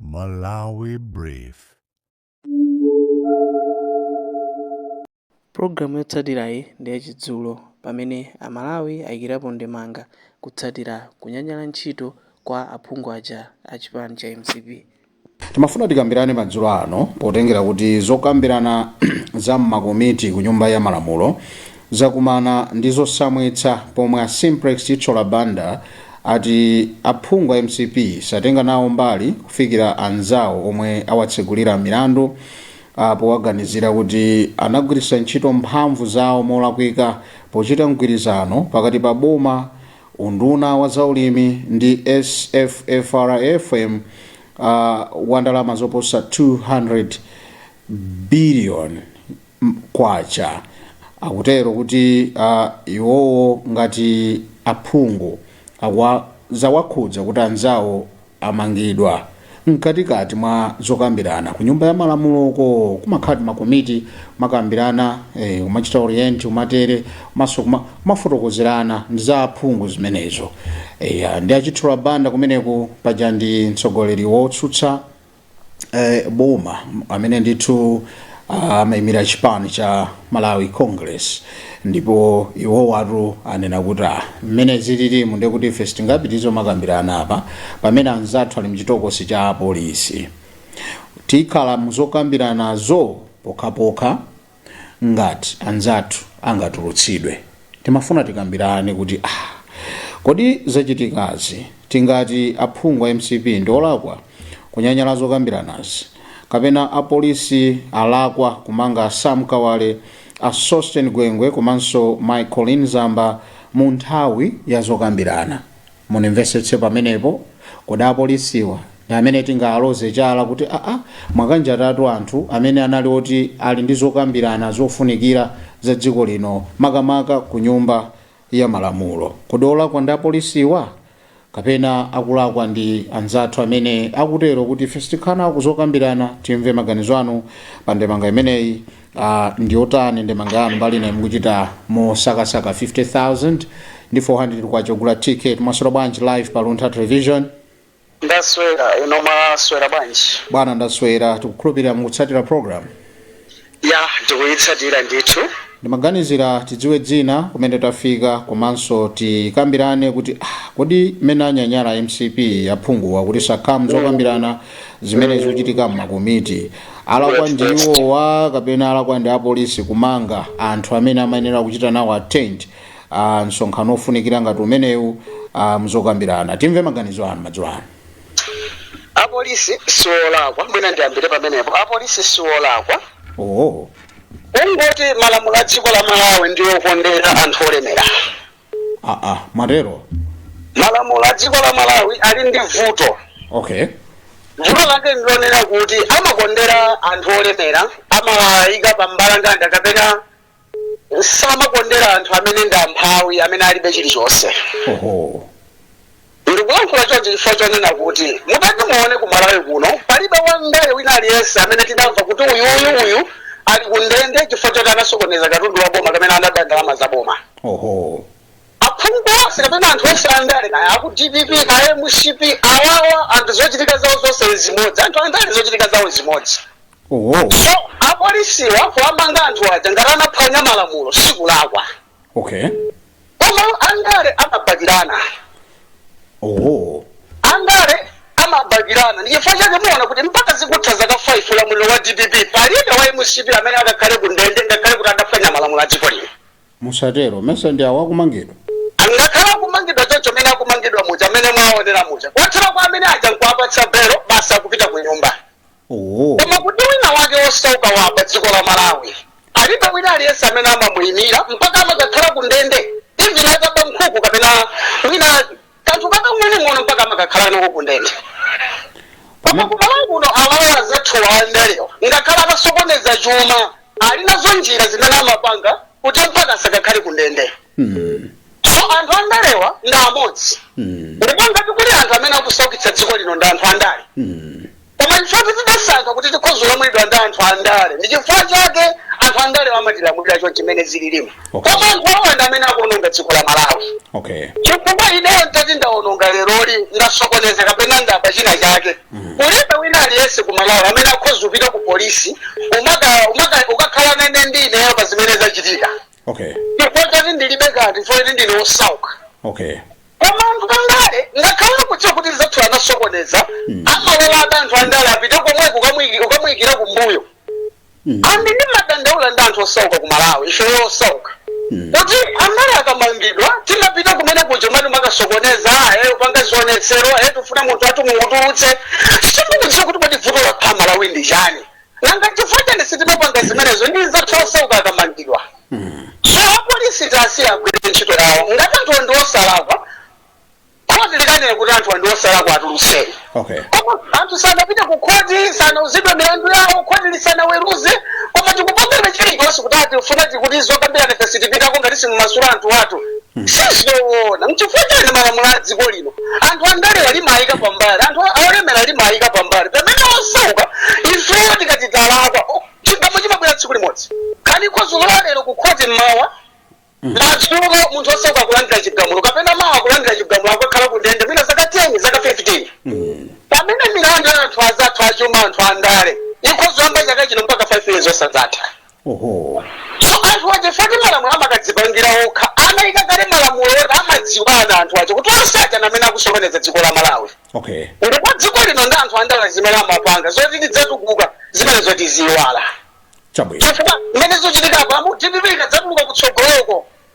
Malawi Brief. Pulogalamu yotsatirayi ndi yachidzulo pamene Amalawi ayikirapo ndemanga kutsatira kunyanyala ntchito kwa aphungu aja a chipani cha mcp. Timafuna tikambirane madzulo ano potengera kuti zokambirana za m'makomiti ku Nyumba ya Malamulo Zakumana ndi zosamwitsa pomwe a Simplex Chithyola Banda ati aphungu a mcp satenga nawo mbali kufikira anzawo omwe awatsegulira milandu powaganizira kuti anagwiritsa ntchito mphamvu zawo molakwika pochita mgwirizano pakati pa boma, unduna wa zaulimi ndi SFFRFM wa ndalama zoposa 200 biliyoni. kwacha akutero kuti uh, iwowo ngati aphungu zawakhudza kuti anzawo amangidwa mkatikati mwa zokambirana ku nyumba ya malamuloko kumakhala makomiti amakambirana eh, kumachita orient kumatere maso kuma- kumafotokozerana ndi za aphungu zimenezo eh, ndi a chithyola banda kumeneko paja ndi mtsogoleri wotsutsa eh, boma amene ndithu ah, amaimira chipani cha malawi congress ndipo iwo watu anena kuti ah, mmene zililimu ndiye kuti ife sitingapitirize kumakambirana apa pamene anzathu ali mchitokosi cha apolisi tikhala muzokambiranazo pokhapokha ngati anzathu angatulutsidwe timafuna tikambilane kuti aah kodi zachitikazi tingati aphungu a mcp ndiolakwa kunyanyala zokambilanazi kapena apolisi alakwa kumanga sam kawale a sosten gwengwe komanso mai colleen zamba munthawi yazokambilana. Mundimvetsetse pamenepo, kodi apolisiwa ndi amene tingawaloze chala kuti aa mwakanjatatu anthu amene anali oti ali ndi zokambirana zofunikira za dziko lino makamaka ku nyumba ya malamulo? Kodi olakwa ndi apolisiwa? Kapena akulakwa ndi anzathu amene akutero kuti ife sitikhala nawo kuzokambirana? Timve maganizo anu pa ndemanga imeneyi. Uh, ndiotani ndemanga yanu mbali inayi mukuchita mosakasaka 50000 ndi 400 kwacha ogula ticket mwaswera bwanji live pa luntha television ndaswera inu mwaswera bwanji bwana ndaswera tikukhulupirira mukutsatira program ya tikuyitsatira ndithu ndimaganizira tidziwe dzina kumene tafika komanso tikambirane kuti ah, kodi mmene anyanyala mcp aphunguwa kuti sakhala muzokambirana zimene zikuchitika mmakomiti alakwa ndi iwowa kapena alakwa ndi apolisi kumanga anthu amene amayenera kuchita nawo attend uh, msonkhano ofunikira ngati umenewu uh, muzokambirana timve maganizo anu madzulo ano apolisi siolakwa mwina ndiyambire pamenepo apolisi siolakwa oh. kungoti malamulo a dziko la malawi ndi okondera anthu olemera aa mwatero malamulo a dziko la malawi ali ndi vuto okay vuto lake ndilonena kuti amakondera anthu olemera amawayika pa mbalambanda kapena samakondera anthu amene ndi amphawi amene alibe chilichonse oho Ndikulankhula chonchi chifukwa chonena kuti mutati muone ku Malawi kuno palibe wandale wina aliyense amene tinamva kuti uyu uyu uyu ali ku ndende chifukwa choti anasokoneza katundu wa boma kapena anaba ndalama za boma. oho Aphungu onse kapena anthu onse andale kaya aku DPP kaya MCP awawa anthu zochitika zawo zonse zimodzi anthu andale zochitika zawo zimodzi. oho So apolisiwa kuwamanga anthu aja ngati anaphwanya malamulo sikulakwa. okay koma andale amabakirana oh andale amabakirana ndichifukwa chake muona kuti mpaka zikutha zaka 5 ulamuliro wa dpp palibe wa mcp amene akakhale ku ndende ngakhale kuti adaphwanya malamulo a dziko lino musatero mesa ndi awa akumangidwa ngakhale akumangidwa choncho mmene akumangidwa muja mmene mwaonera muja kwathera kwa mmene aja nkuwapatsa belo basi akupita ku nyumba Oh. koma kuti wina wake wosauka wapa dziko la malawi alibe wina aliyense amene amamuyimira mpaka amakakhala ku ndende even ataba nkhuku kapena mwina kanthu kakang'onong'ono mpaka amakakhala nako ku ndende koma ku malawi kuno awawa azathuwa andalewa ngakhale atasokoneza chuma ali nazo njira zimene amapanga kuti mpaka asakakhale ku ndende Mm. so anthu andalewa ndi amodzi Mm. ndipo ngati kuli anthu amene akusaukitsa dziko lino ndi anthu andale Mm. koma chifukwa kuti tidasankha kuti tikhozolamulidwa ndi anthu andale ndi chifukwa chake anthu andale amatilamulira choncho mmene zililimu Okay. koma anthu awa ndi amene akuononga dziko la malawi okay chifukwa ineyo ntati ndaononga leroli ndasokoneza kapena ndaba china chake kulibe wina aliyense ku malawi amene akhoza kupita ku polisi umaka- umaka- ukakhala nene ndi ineyo pa zimene zachitika okay chifukwa choti ndilibe kanthu chifukwa choti ndine osauka okay koma anthu andale ngakhale akudziwa kuti mnzathuyu anasokoneza amalola hata anthu andale apite komweko kukamwiki- ukamuyikira kumbuyo Mm. and ndimadandaula ndi anthu osauka ku malawi ifeyo osauka Mm. kuti andale akamangidwa timapita kumene kuja kumatimakasokoneza ahe kupanga zionetsero ahe tifuna munthu wathu mumutulutse sindikudziwa kuti kodi vuto la a malawi ndi chani nanga chifukwa chani sitimapanga zimenezo ndi nzathu osauka akamangidwa so apolisi tawasiya agwire ntchito yawo ngati anthu ndi osalakwa khoti likanene kuti anthu ndi osalakwa atulutseni okay koma anthu sanapite ku khoti sanauzidwe milandu yawo khoti lisanaweruze koma tikupanga chilichonse kuti atifuna tikuti zokambirana ife sitipitako ngati simumasula anthu athu sizoona nchifukwa chani malamulo a dziko lino anthu andale alimayika pambali anthu olemera alimayika pambali pamene osauka ifeyo tikati talakwa o, chigamulo chimabwera tsiku limodzi kani ikhoza kulowa lero kukhoti mmawa madzulo munthu osauka akulandira chigamulo kapena mawa akulandira chigamulo akakhala ku ndende mwina zaka 10 zaka 15 pamene milandu ya anthu azathu achuma anthu andale ikhozoyamba chaka chino mpaka 5 years osazatha so anthu aja ngati malamulo amakadzipangira okha anaika kale malamulo oti amadziwana anthu aja kuti onse aja ndi amene akusokoneza dziko la malawi okay ndipo dziko lino ndi anthu andale zimene amapanga zoti tidzatukuka zimenezo tiziiwala chabwino chifukwa mmene zikuchitika apamu dpp ikadzatuluka kutsogoloko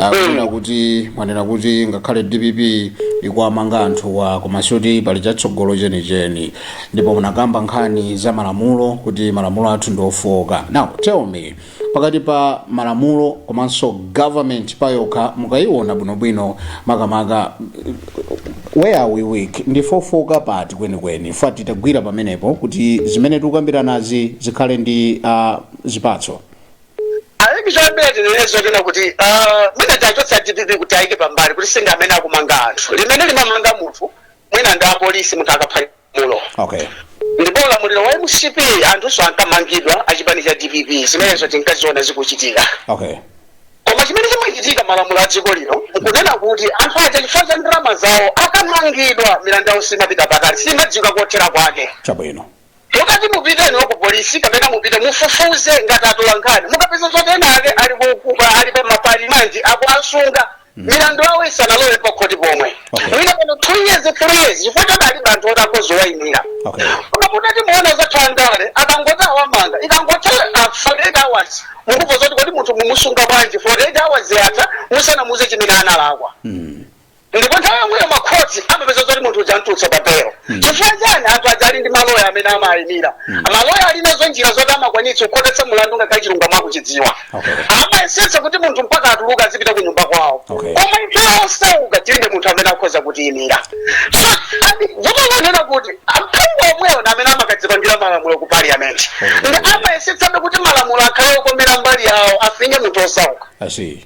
akunena kuti mwanena kuti ngakhale dpp ikuwamanga anthuwa koma sikuti pali chatsogolo chenicheni ndipo munakamba nkhani za malamulo kuti malamulo athu ndi ofooka now tell me pakati pa malamulo komanso government payokha mukayiona bwinobwino makamaka where are we weak ndife ofooka pati kwenikweni poti titagwira pamenepo kuti zimene tikukambiranazi zikhale ndi uh, zipatso ayi choyambirira tinene zonena kuti ah, mwina tiwachotse a dpp tiwayike pambali kuti si amene akumanga anthu amene amamanga munthu mwina ndi apolisi munthu akaphwanya lamulo okay ndipo ulamuliro wa mcp anthunso ankamangidwa achipani cha dpp zimenezo tinkaziona zikuchitika okay koma chimene chimachitika malamulo a dziko lino nkunena kuti anthu aja chifukwa cha ndalama zawo akamangidwa milandu yawo simapita patali simadziwika kothera kwake chabwino Mukati mupite inuyo ku police kapena mupite mufufuze ngati atolankhani mukapeza zoti ena ake ali uku ali pa ma remand akuwasunga milandu yawo isanalowe pa khoti pomwe Okay. mwina pano two years three years chifukwa choti alibe anthu oti akhoza kuwaimira Okay. koma mutati muona anzathu andale akangoti awamanga ikangotha forty eight hours mukumva zoti kodi munthu mumusunga bwanji forty eight hours yatha musanamuuze chimene analakwa ndipo nthawi yomweyo makhoti amapeza zoti munthu uja amtulutsa pa belo chifukwa chani anthu aja ali ndi maloya amene amawayimira maloya ali nazo njira zoti amakwanitsa kukhotetsa mulandu ngakhale chilungamo akuchidziwa Okay. amayesetsa kuti munthu mpaka atuluka azipita ku nyumba kwawo Okay. koma ife osauka tilibe munthu amene akhoza kutiyimira so ndi vuto lonena kuti aphungu omwewo ndi amene amakadzipangira malamulo ku parliament ndi amayesetsabe kuti malamulo akhale okomera mbali yawo afinye munthu osauka I see.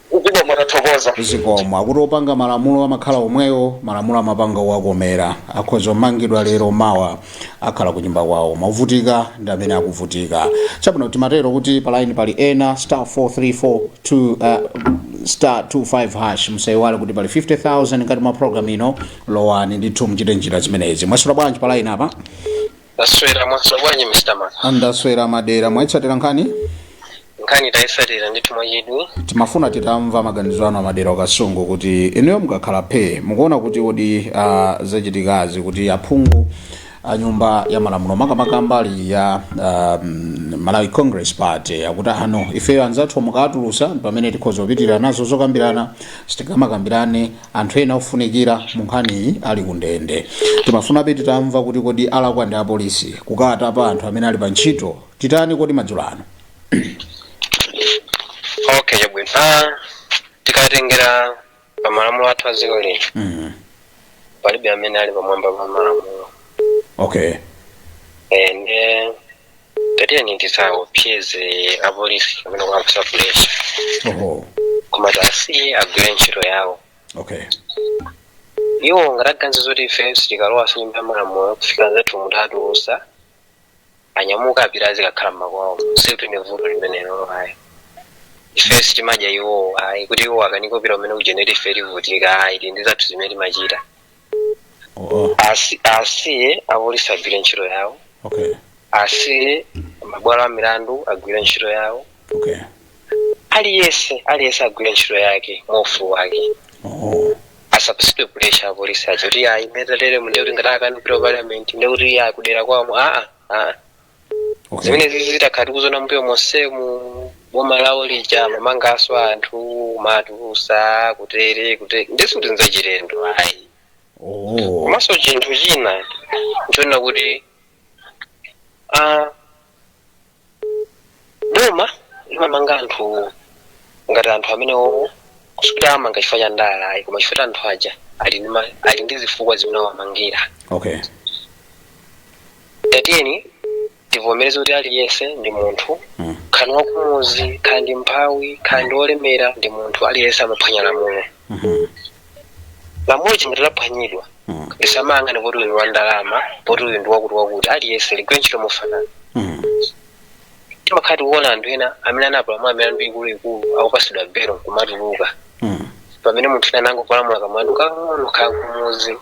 kugwa mwatathokoza zikomo akuti opanga malamulo amakhala omwewo malamulo amapanga owakomera akhoza omangidwa lero mawa akhala kunyumba kwawo mavutika ndi amene akuvutika chabwino timatero kuti palaini pali ena star 434 two, uh, star 25 hash musayiwale kuti pali 50000 ngati mwa program ino lowani ndithu muchite njira zimenezi mwaswera bwanji palaini apa Ndaswera mwaswera bwanji Mr. Man. ndaswera a Madera mwaitsatira nkhani Nkhani tayitsatira ndithu mwachidwi. timafuna titamva maganizo anu a Madera ku Kasungu kuti inuyo mukakhala phe mukuona kuti kodi ah, zachitikazi kuti aphungu a nyumba ya malamulo makamaka mbali ya um, malawi congress party akuti inu ifeyo anzathu mukatulusa pamene tikhoza kupitirira nazo zokambirana sitingamakambirane anthu ena ofunikira munkhaniyi ali ku ndende timafunabe titamva kuti kodi alakwa ndi apolisi kukatapa anthu amene ali pa ntchito tithandizeni kodi madzulo ano okay chabwino ah, tikatengera pa malamulo athu a dziko lino mm. palibe amene ali pamwamba pa malamulo okay eh, nde tatiyeni tisaopseze apolisi kapena kuwapasa pulesha oho koma tiwasiye agwire ntchito yawo okay iwo ngati aganiza zoti ife sitikalowa m'nyumba ya malamulo kufikira anzathu mutatulusa anyamuke apite azikakhala mmakwawo sikuti ni vuto limenelo ayi ife sitimadya iwowo ayi kuti iwo akana kupita kumene kuja ndiye ife tivutika ayi tili ndi zathu zimene timachita Oh, Asi- asiye apolisi agwire ntchito yawo okay, asiye mabwalo a milandu agwire ntchito yawo okay. aliyense aliyense agwire ntchito yake mwaufulu wake Oh, asapasidwe pressure apolisi acho kuti ayi metalere nde kuti ngati akana kupita ku parliament nde kuti iye akudyera komweko aa aa okay. zimenezizi takhala tikuziona mbuyo monsemu m'boma lawo lija amamangaso anthu nkumawatulusa kutere kutere nde sikuti nzachilendo ayi oh. komanso chinthu china nchonena kuti ah, boma limamanga anthu ngati anthu amene owo sikuti awamanga chifukwa cha ndale ayi koma chifukwa cha anthu aja ali ndi ma- ali ndi zifukwa zimene awamangira okay tatiyeni tivomereze kuti aliyense ndi munthu Mm. kaya ndi wakumudzi kaya ndi mphawi kaya ndi wolemera ndi munthu aliyense amaphwanya lamulo Mhm. lamulo ngati laphwanyidwa Mm. lisamayang'ane poti uyu ndi wa ndalama poti uyu ndi wakuti wakuti aliyense ligwire ntchito mofanana Mm. timakhala tikuona anthu ena amene anapalamula milandu ikuluikulu akupasidwa belo nkumatuluka Mm. pamene anthu ena anangopalamula kamlandu kakang'ono kaya kumudzi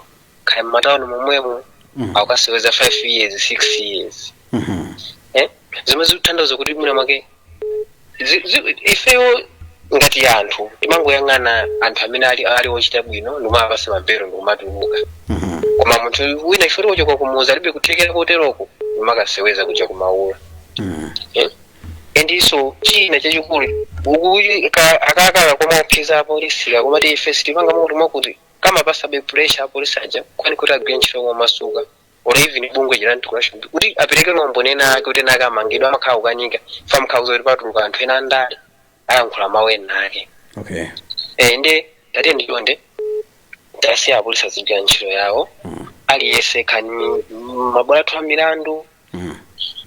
kaya m'matawuni momwemo Mm. akukasewenza 5 years 6 years Mhm. eh? zomwe zikutanthauza kuti mwina mwake Zi- zi- ifeyo ngati anthu timangoyang'ana anthu amene ali, ali ochita bwino ndikumawapatsa mabelo ndikumatuluka koma munthu wina ife ti wochoka kumudzi alibe kuthekera koteroko ndi amakaseweza kuja kumaula Eh? endiso china chachikulu ukuyi ka- akakhala kumaopseza apolisi akumati ife sitimanga munthu mwakuti akamapatsabe pressure apolisi aja koni kuti agwire ntchito momasuka or even bungwe chija anticorruption bureau kuti apereke maumboni ena ake kuti ena ake amangidwe amakhala akukanika chifukwa mukawauza kuti patuluka anthu ena andale ayankhula mawu ena ake okay Eh, ndiye tatiyeni chonde tisiye apolisi azigwira ntchito yawo aliyense kaya ndi mabwalo athu a milandu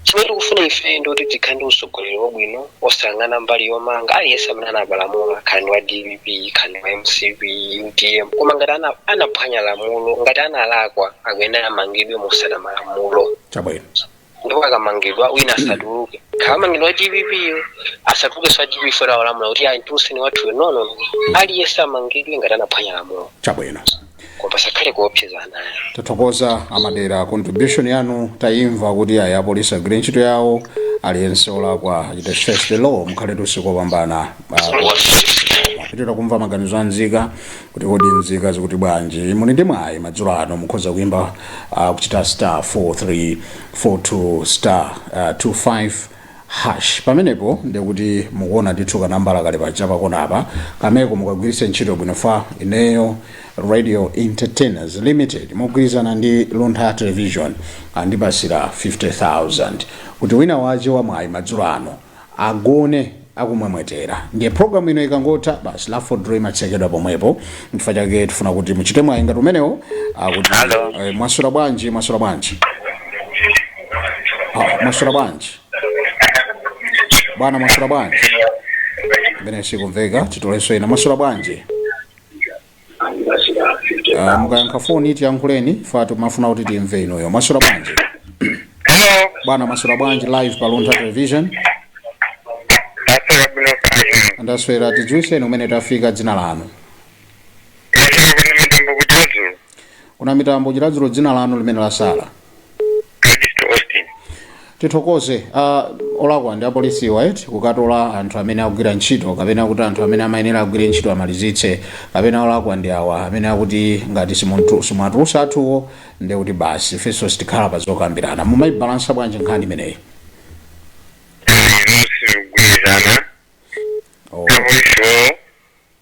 Chimene tikufuna ife ndi kuti tikhale ndi utsogoleri wabwino osayang'ana mbali yomanga aliyense amene anapalamula kaya ndi wa dpp kaya ndi wa mcp utm koma ngati ana, anaphwanya lamulo ngati analakwa akuyenera amangidwe motsata malamulo chabwino ndipo akamangidwa wina asatuluke akamangidwa wa dpp yo asatuluke za dpp yo akulamula kuti ayi mtulutseni wathuyo nono aliyense amangidwe ngati anaphwanya lamulo chabwino koma pasakhale kuopsezana tathokoza amadera contribution yanu tayimva kuti ayi apolisi agwire ntchito yawo aliyense olakwa achite face the law mukhale ndi usiku wopambana Ah, tipitirize kumva maganizo a nzika kuti kodi nzika zikuti bwanji muli ndi mwayi madzulo ano mukhoza kuyimba ah, kuchita star 4342 star ah, 25 Hash! Pamenepo ndiye kuti mukuona ndithu kanambala kali paja pakona apa, kameko mukagwiritse ntchito bwino chifukwa. Ineyo Radio Entertainers Limited mogwirizana ndi Luntha Television andipasira 50,000 kuti wina wache wa mwayi madzulo ano agone akumwemwetera ndiye program ino ikangotha basi la for dream imatsekedwa pomwepo chifukwa chake tifuna kuti muchite mwayi ngati umenewo akuti Hello. eh, mwaswera bwanji mwaswera bwanji Ah, mwaswera bwanji bwana mwaswera bwanji imeneyo sikumveka titolenso ina mwaswera bwanji Ah, mukayankha foni tiyankhuleni chifukwa timafuna kuti timve inuyo mwaswera bwanji Hello, bwana mwaswera bwanji live pa luntha television Pastor Abdul Karim. ndaswera tidziwitseni kumene tafika dzina lanu Mwafika kuno kwa Namitambo ku Chiradzulu. ku Namitambo Chiradzulu dzina lanu limene latsala Ernest Austin. tithokoze uh, olakwa ndi apolisiwa eti kukatola anthu amene akugwira ntchito kapena kuti anthu amene amayenera agwire ntchito amalizitse kapena olakwa ndi awa amene akuti ngati simuntu- simwatulusa athuwo ndi kuti basi ifenso sitikhala pa zokambirana mumayibalansa bwanji nkhani imeneyi Inu simugwirizana. Oh. Apolisiwo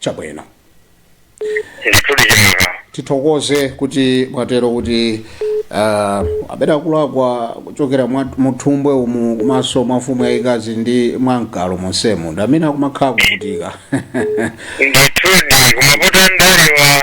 chabwino ndithudi chimwemwe tithokoze kuti mwatero kuti uh, abera akulakwa kuchokera mwa- muthumbwe umu komanso mwa mfumu yayikazi ndi mwa mkalo monsemo ndi amene akumakhala kuvutika ndithudi kumavuta ndalewa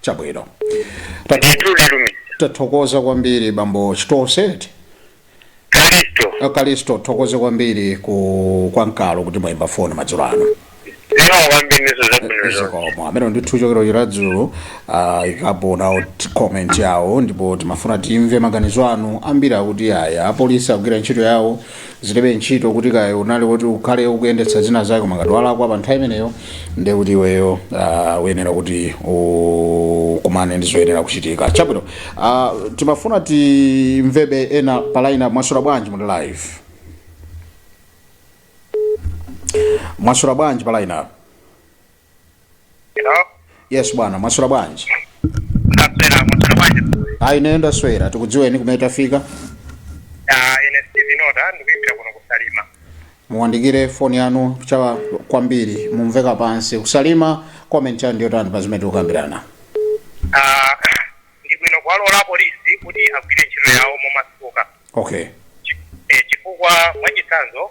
chabwino ndithu lilumi tathokoza kwambiri bambo chitoseti kalisto akalisto thokoze kwambiri ku kwa mkalo kuti mwayimba foni madzulo ano lero kwambiriso zabwino zonse zikomo amene ndithu kuchokera ku Chiradzulu ah, ayikapo nawo t- comment yawo ndipo timafuna timve maganizo anu ambiri akuti aya apolisi akugwira ntchito yawo zilibe ntchito kuti kaya unali kuti ukhale ukuyendetsa zina zake koma ngati walakwa pa nthawi imeneyo ndiye kuti iweyo uh, uyenera kuti ukumane ndi zoyenera kuchitika chabwino uh, timafuna timvebe ena pa line mwaswera bwanji muli live mwaswera bwanji pa line Hello? yes bwana mwaswera bwanji Ndaswera mutala bwanji. ayi ine ndaswera tikudziweni kumene tafika Ah, ine Steve Nota ndikuimbira kuno ku Salima. muwandikire foni yanu chawa kwambiri mukumveka pansi ku Salima comment yanu ndiyotani pa zimene tikukambirana Ah, ndi bwino kuwalola polisi kuti agwire ntchito yawo momasuka. okay Eh, chifukwa mwachitsanzo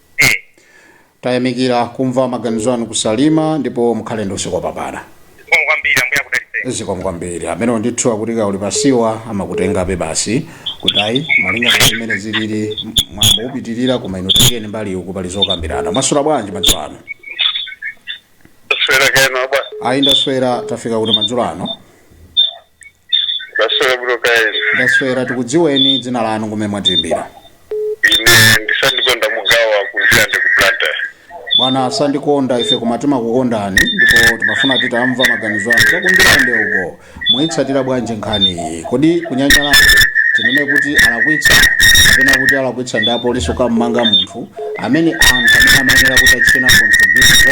e. Tayamikira kumva maganizo anu ku Salima ndipo mukhale ndi usiku wopambana. zikomo kwambiri ambuye akudalitseni zikomo kwambiri amene ndithu akuti kaya uli pa siwa amakutengabe basi kuti ayi malinga ndi zimene zilili mwambo upitirira koma inu tengeni mbali uku pali zokambirana mwaswera bwanji madzulo ano kuswera kena bwa ayi ndaswera tafika kuti madzulo ano Ndaswera bwino kaya inu. ndaswera tikudziweni dzina lanu kumene mwatiimbira Ine ndi Sandikonda Mugawa ku Ndirande ku Blantyre. bwana a Sandikonda ife koma timakukondani ndipo timafuna titamva maganizo anu cha ku Ndirande uko muyitsatira bwanji nkhani iyi kodi kunyanyalanso tinene kuti alakwitsa kapena kuti alakwitsa ndi apolisi kukammanga munthu amene anthu amene amayenera kuti achitenawo contribute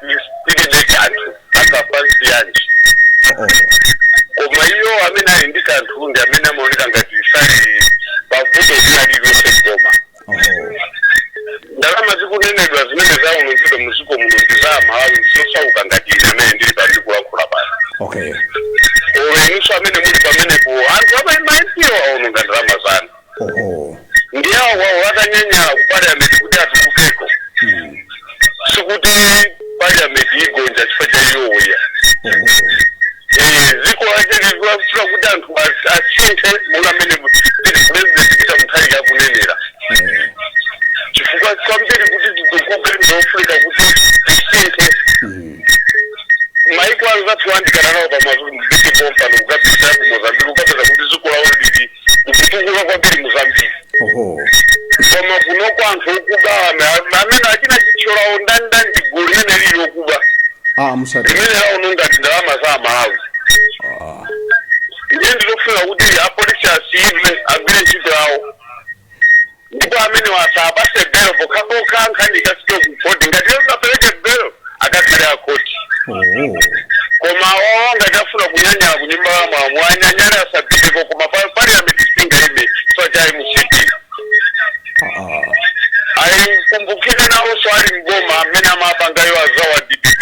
tilibe kanthu akafa siyanji Oh, oh. koma iyo amene ali ndi kanthu ndi amene amaoneka ngati sali pavuto lina lililonse koma Oh, oh. ndalama zikunenedwa zimene zaonongedwa muziko muno ndi za aMalawi osauka ngati ine amene ndili pano ndikulankhula pano okay inunso amene muli pamenepo anthu amaipidwa aononga ndalama zanu Oho. ndiye awawo akanyanyala ku parliament kuti atulukeko Mm. sikuti parliament igonja chifukwa cha iwowo ya Oho. Eh, ziko lache likufuna kuti anthu as- asinthe monga amene pili president peter mutharika akunenera Eh. chifukwa kwambiri kuti titukuke ndiofunika kuti tisinthe Mm. maiko anzathu oyandikana nawo pamazulu mviti pompano ukapita ku mozambiki ukapeza kuti ziko lawo lili kukutukula kwambiri mozambiki oho koma kunoko anthu okuba ana amene achina chithyolawo ndandani gulu limene lili okuba ah musati limene laononga ndalama za amalawi ah ndiye ndilofuna kuti apolisi asiyidwe agwire ntchito yawo Ndipo amenewo asapase bail pokhapokha nkhani ikafike ku court ngati iwo angapeleke bail akakhale a court Oooh. koma awawa ngati afuna kunyanyala ku nyumba ya malamulo anyanyale asapiteko koma parliament singaime chifukwa cha mcp Aaa. ayi mukumbukire nawonso ali mboma amene amapangayo azawa dpp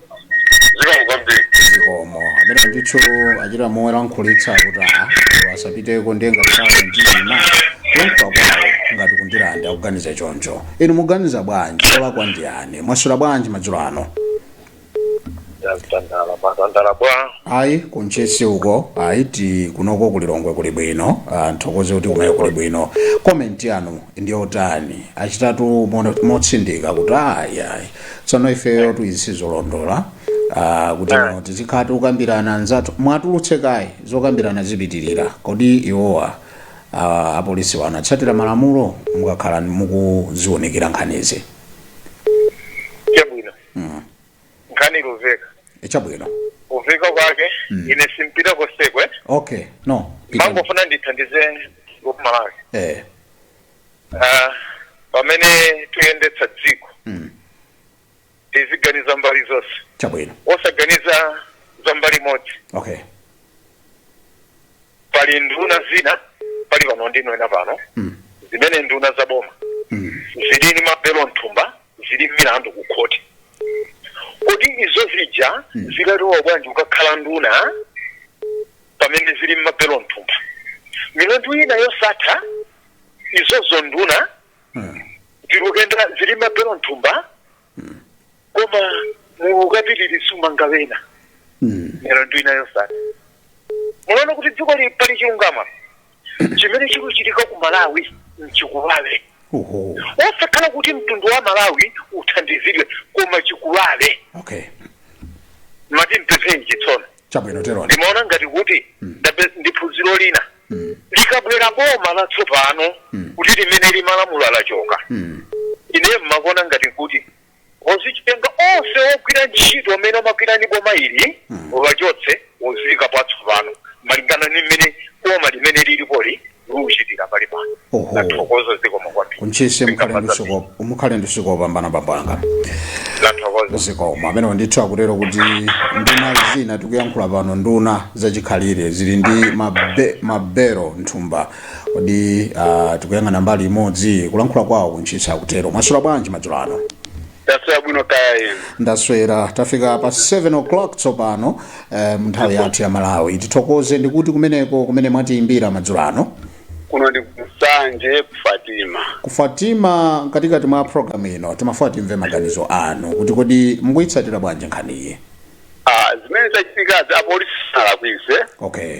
zikomo kwambiri zikomo amene ndithu achita momwe lankhulitsa kuti a iwo asapiteko ndiye ngati sawa mtima kulankhula kwawo ngati ku ndirande akuganiza choncho inu muganiza bwanji olakwa ndi ani mwaswera bwanji madzulo ano ndatandala mwatandala bwa ayi ku ntchisi uko ayi ti kunoko kulilongwe kuli bwino tithokoze kuti kumene kuli bwino komenti yanu ndi yotani achitatu mo- motsindika kuti ayi ayi tsono ifeyo tuti sizolondola ah, kuti Eh. no tizikhala tikukambirana anzathu mwatulutse kaye zokambirana zipitirira kodi iwowa ah, apolisiwa anatsatira malamulo mukakhala mukuziunikira nkhanizi chabwino nkhani luveka chabwino kuveka kwake Mm. ine simpita konseko okay no mangofuna ndithandize amalawi eh Ah, pamene tuyendetsa dziko mm. tiziganiza mbali zonse chabwino osaganiza za mbali imodzi okay pali nduna zina pali pano ndinena pano mm. zimene nduna za boma mm. zili ndi mabelo mthumba zili mmilandu ku khoti kodi izo zija zikalowa bwanji kukakhala nduna pamene zili mmabelo mthumba milandu ina yosatha izozo nduna zilukwenda zili mmabelo mthumba koma mukapitiriza kumanga wena milandu ina yosatha munaona kuti dzikoli pali chilungama chimene chikuchitika ku malawi mchikuwawe Oho. wosakhala kuti mtundu wa malawi uthandizidwe koma chikuwawe Okay. mati mpezeni chitsono Chabwino teroni. ndimaona ngati kuti ndi phunziro lina likabwera boma latsopano kuti limene limalamula lachoka ine mmakuona ngati kuti Ozichitenga onse ogwira ntchito amene amagwira ndi boma ili awachotse aziyikapo atsopano malingana ndi mmene boma limene lilipoli likuchitira panopa. Oho. Ndathokoza zikomo kwambiri. ku Ntchisi mukhale ndi usiku wo- mukhale ndi usiku wopambana bambo anga Ndathokoza. zikomo amenewo ndithu akutero kuti nduna zina tikuyankhula pano nduna zachikhalire zili ndi mabe, mabero nthumba kodi ah, tikuyang'ana mbali imodzi kulankhula kwawo ku Ntchisi akutero mwaswera bwanji madzulo ano taswera bwino kaya inu ndaswera tafika pa 7 o'clock tsopano eh, nthawi yathu ya malawi tithokoze ndi kuti kumeneko kumene mwatiyimbira madzulo ano kuno ndi ku Nsanje ku fatima ku fatima mkatikati mwa programu ino timafuna timve maganizo anu kuti kodi mukuyitsatira bwanji nkhaniyi Ah, zimene zachitikazi apolisi sanalakwitse okay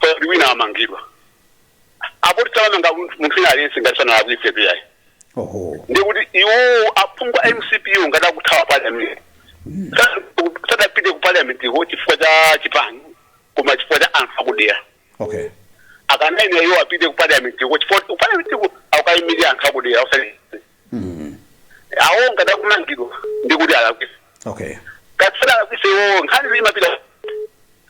kaya kuti wina amangidwa apolisi samamanga munthu munthu wina aliyense ngati sanalakwitse ayi oho ndi kuti iwo aphungu a MCP ngati akuthawa parliament Sa- sadapite ku parliament ko chifukwa cha chipani koma chifukwa cha anthu akudera okay akanayenera iwo apite ku parliament ko chifukwa ku parliament ko akukayimira anthu akudera osati iwo ngati akumangidwa ndi kuti alakwitsa okay ngati salakwitsa iwo nkhani imapita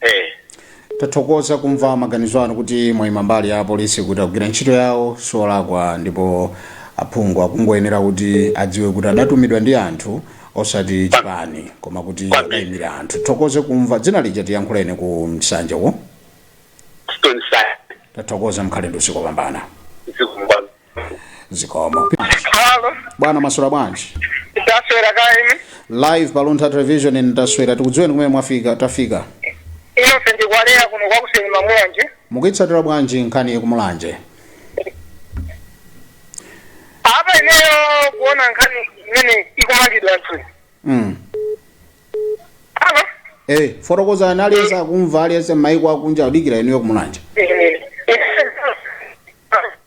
eh tathokoza kumva maganizo anu kuti mwayima mbali ya apolisi kuti akugwira ntchito yawo sakulakwa ndipo aphungu akungoyenera kuti adziwe kuti adatumidwa ndi anthu osati chipani koma kuti adayimira anthu thokoze kumva dzina lija tiyankhuleni ku Nsanje ko stone side tathokoza mukhale ndi usiku wopambana zikomo zikomo Halo, bwana mwaswera bwanji ndaswera kaya inu. live pa luntha television ndaswera tikudziweni kumene mwafika tafika Ine ndi Kwaleya kuno kwa Kuseni ma Mulanje. mukuyitsatira bwanji nkhani yakumulanje Apa ineyo kuona nkhani imeneyi kumangidwa anthu. mm. Halo. hey, fotokozani aliyense akumva aliyense m'mayiko akunja akudikira inuyo kumulanje Eh, eh,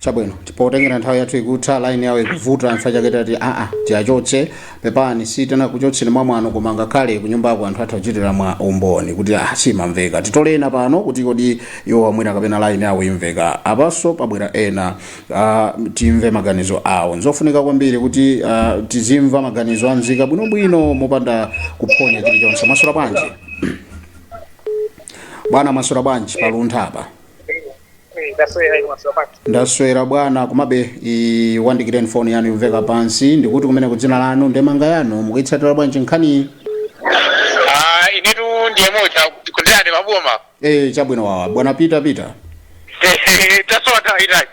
chabwino potengera nthawi yathu ikutha line yawo ikuvuta anthu achake tati aa tiwachotse pepani sitinakuchotseni mwa mwano koma ngakhale kunyumbako anthu atha kuchitira mwa umboni kuti ah simamveka tikulira pano kuti kodi iwo mwina kapena line yawo imveka apanso pabwera ena ah, timve maganizo awo nzofunika kwambiri kuti ah, tizimva maganizo anzika bwinobwino mopanda kuphonya chilichonse mwaswera bwanji bwana mwaswera bwanji pa Luntha apa ndaswera bwana komabe iwandikireni foni yanu ikumveka pansi tikutikumene ku dzina lanu ndemanga yanu mukuyitsatira bwanji nkhaniyi Ah, inetu ndiye moja ku Ndirande maboma e chabwino wawa bwana Peter Peter tasowa nthawi itayi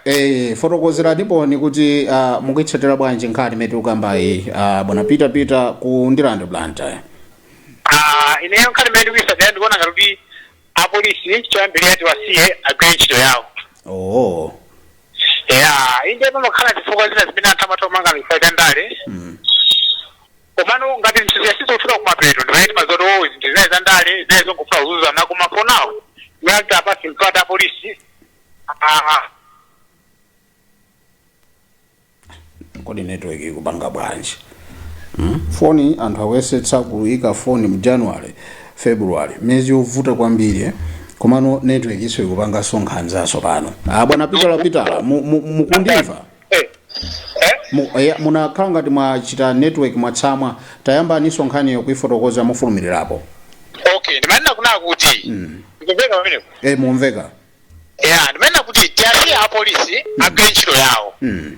e fotokozeranipo kuti uh, mukuyitsatira bwanji nkhani imene tikukambayi uh, bwana Peter Peter ku Ndirande Blantyre Ah, ineyo nkhani imene ndikuyisatira ndikuona ngati kuti apolisi choyambirira tiwasiye agwire ntchito yawo oh ya inde pamakhala zifukwa zina zimene anthu amatha kumanga chifukwa cha ndale mm. komano ngati zinthu zizafika kumapeto ndimene timazaona zoti zinthu zinali za ndale zinali zongofuna kuzuzana koma for now ngati apatsidwe mpata apolisi ah, kodi network ikupanga bwanji hmm? foni anthu akuyesetsa kuyika foni mu january february miyezi yovuta kwambiri eh? komano network iso ikupangaso nkhanzaso pano ah, bwana Peter Peter mukutimva eh, eh? munakhala ngati mwa- chi network mwatsamwa tayambaniso nkhaniyo kuifotokoza mofulumilirapo okay ndimanena kunena kuti mm. ndikumveka pamenepo eh mukumveka ya ndimanena kuti tiwasiye apolisi agwire ntchito yawo Mm.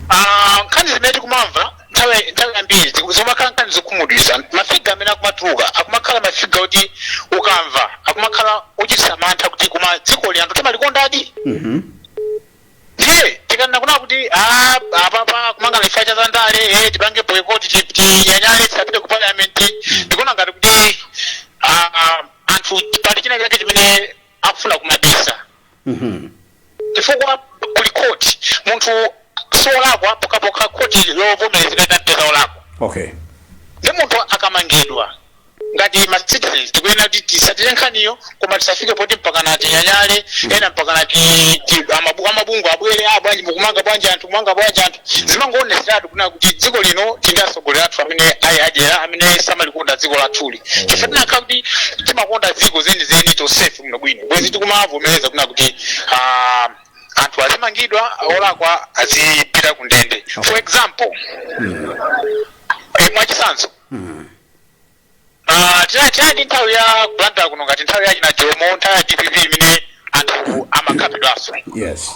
Ah, nkhani zimene tikumamva nthawi nthawi yambiri ziku- zimakhala nkhani zokhumudwitsa mafiga amene akumatuluka akumakhala mafiga oti ukamva akumakhala ochititsa mantha kuti koma dziko lino anthu timalikondadi Mhm. ndiye tikanena kunena kuti "Ah, apapa kumangana chifukwa cha zandale eh, tipange boycott ti- tinyanyale tisapite ku parliament ndikuona ngati kuti ah, ah, anthu pali china chake chimene akufuna kumabisa Mhm. chifukwa kuli khoti munthu siolakwa pokhapokha khoti lovomerezeka litampeza olakwa okay ndi munthu akamangidwa ngati ma citizens tikuyenera kuti tisatire nkhaniyo koma tisafike poti mpakana tinyanyale ena mpakana ti- ti- amabu- amabungwe abwere aa bwanji mukumanga bwanji anthu kumanga bwanji anthu zimangoonetseratu kunena kuti dziko lino tili ndi atsogoleri athu amene ali adyera amene samalikonda dziko lathuli chifukwa tikanakhala kuti timakonda dziko zenizeni tosefe muno bwino bwezi tikumavomereza kunena kuti ah, anthu azimangidwa olakwa azipita ku ndende for example eh, mwachitsanzo Ah, tinali tinali ndi nthawi ya kulanda kuno ngati nthawi ya achina jomo nthawi ya dpp imene anthu amakhapidwanso yes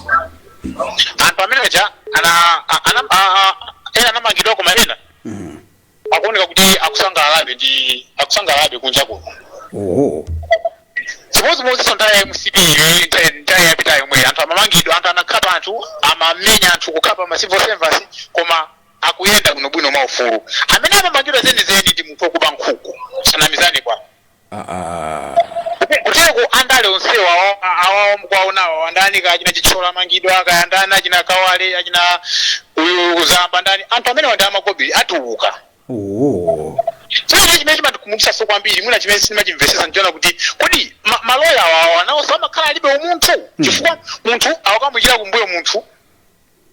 anthu amene aja ana a- ana a- a- ena anamangidwa koma ena akuoneka kuti akusangalalabe ndi akusangalalabe kunja kuno oho chimodzimodzinso nthawi ya mcp iyoyi nthawi- nthawi yapita yomwe anthu amamangidwa anthu anakhapa anthu amamenya anthu kukhapa ma civil servants koma akuyenda bwino bwino mwa ufulu. Amene amamangidwa zeni zeni ndi munthu okuba nkhuku. Tisanamizane kwa kutereku andale onsewa awa- awawa mukuwaonawa awa andani kaya achina chithyola amangidwa kaya ndani achina kawale achina uyu zamba ndani anthu amenewa ndi amakobiri atuluka chimene chimene chimatikhumudwitsaso kwambiri mwina chimene sindimachimvesesa ndichoona kuti kodi ma- maloya awawa nawonso amakhala alibe umunthu chifukwa munthu akamuikira kumbuyo munthu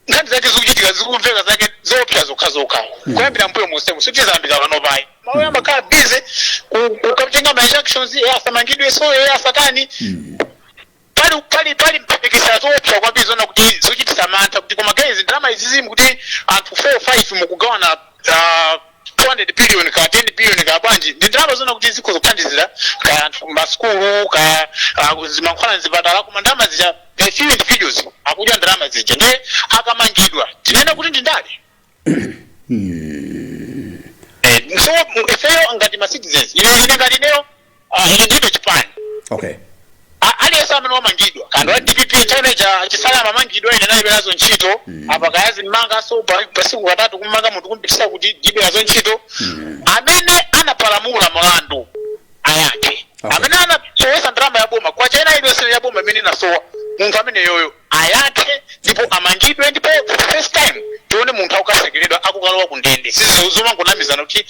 nkhani zake zikuchitika zikumveka zake zoopsa zokhazokha kuyambira mbuyo monsemu sitizayambira panopa ayi maloya amakhala busy kukatenga ma injunctions e asamangidweso e asatani pali pali pali mphekesera zoopsa kwambiri zoona kuti zochitisa mantha kuti koma guys ndalama izizi mu- kuti anthu 4 5 mukugawana ah, 200 billion ka 10 billion ka bwanji ndi ndalama zoona kuti zikhoza kuthandizira ka anthu m'masukulu ka uh, zimankhwala mzipatala koma ndalama zija a few individuals akudya ndalama zija ndiye akamangidwa tinene kuti ndi ndale Eh, so ifeyo ngati ma citizens ine ine ngati ineyo Ah, ine ndilibe chipani okay A- aliyense amene wamangidwa kaya ndi wa dpp chimene achisale amamangidwa ine ndilibe nazo ntchito apa kaya azimmangaso pa- pasiku katatu kummanga munthu kumpitisa ku court ndilibe nazo ntchito amene anapalamula mlandu ayankhe Okay. amene anasowesa ndalama ya boma kwacha ina iliyonse ya boma imene inasowa munthu ameneyoyo ayankhe ndipo amangidwe ndipo for the first time tione munthu akukatsekeredwa akukalowa ku ndende si zomangonamizana kuti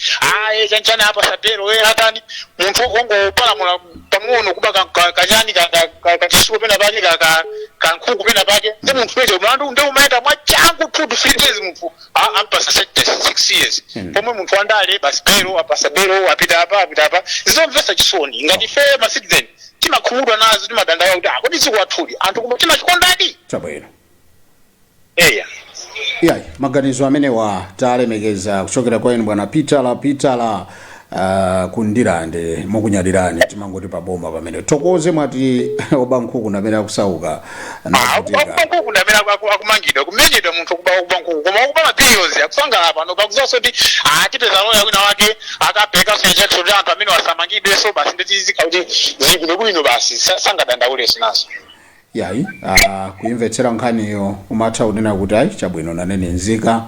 aye chanchani apatsa belo e atani munthu ongopalamula pang'ono kuba ka- ka- kachani ka- ka- ka- kachitsulo pena pake ka- ka- kankhuku pena pake ndi munthuyo mlandu ndiye umayenda mwachangu two to three days munthu a- ampatsa sentence six years pomwe munthu wandale basi belo apatsa belo apita apa apita apa zomvetsa chisoni ngati ife ma citizen timakhumudwa nazo timadandaula kuti ah kodi dziko lathuli anthu koma timalikondadi chabwino eya yayi maganizo amenewa talemekeza kuchokera kwa inu bwana pitala pitala uh, ku ndirande takunyadirani timangoti tabomba pamenepo tikonze mwati oba nkhuku ndi amene akusauka akuba nkuku ndamene akumangidwa kumenyedwa munthu okuba okuba nkuku koma okuba mabilions akusangalala pano pakuzaso kuti atipeza loya wina wake akapeka injunction kuti anthu amene wasamangidweso basi nditizika kuti zibwino bwino basi sa- sangadandauleso nazo yayi ah, kuyimvetsera nkhaniyo umatha kunena kuti ayi chabwino nanene nzika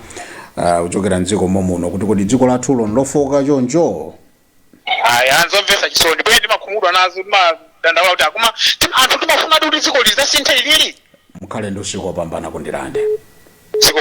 ah, kuchokera mdziko momuno kuti kodi dziko lathuli nlofooka choncho ayi anzomvetsa chisoni bwe timakhumudwa nazo timadandaula kuti akuma tim- anthu timafunadi kuti dziko lizasinthe ilili mukhale ndi usiku wopambana ku Ndirande dziko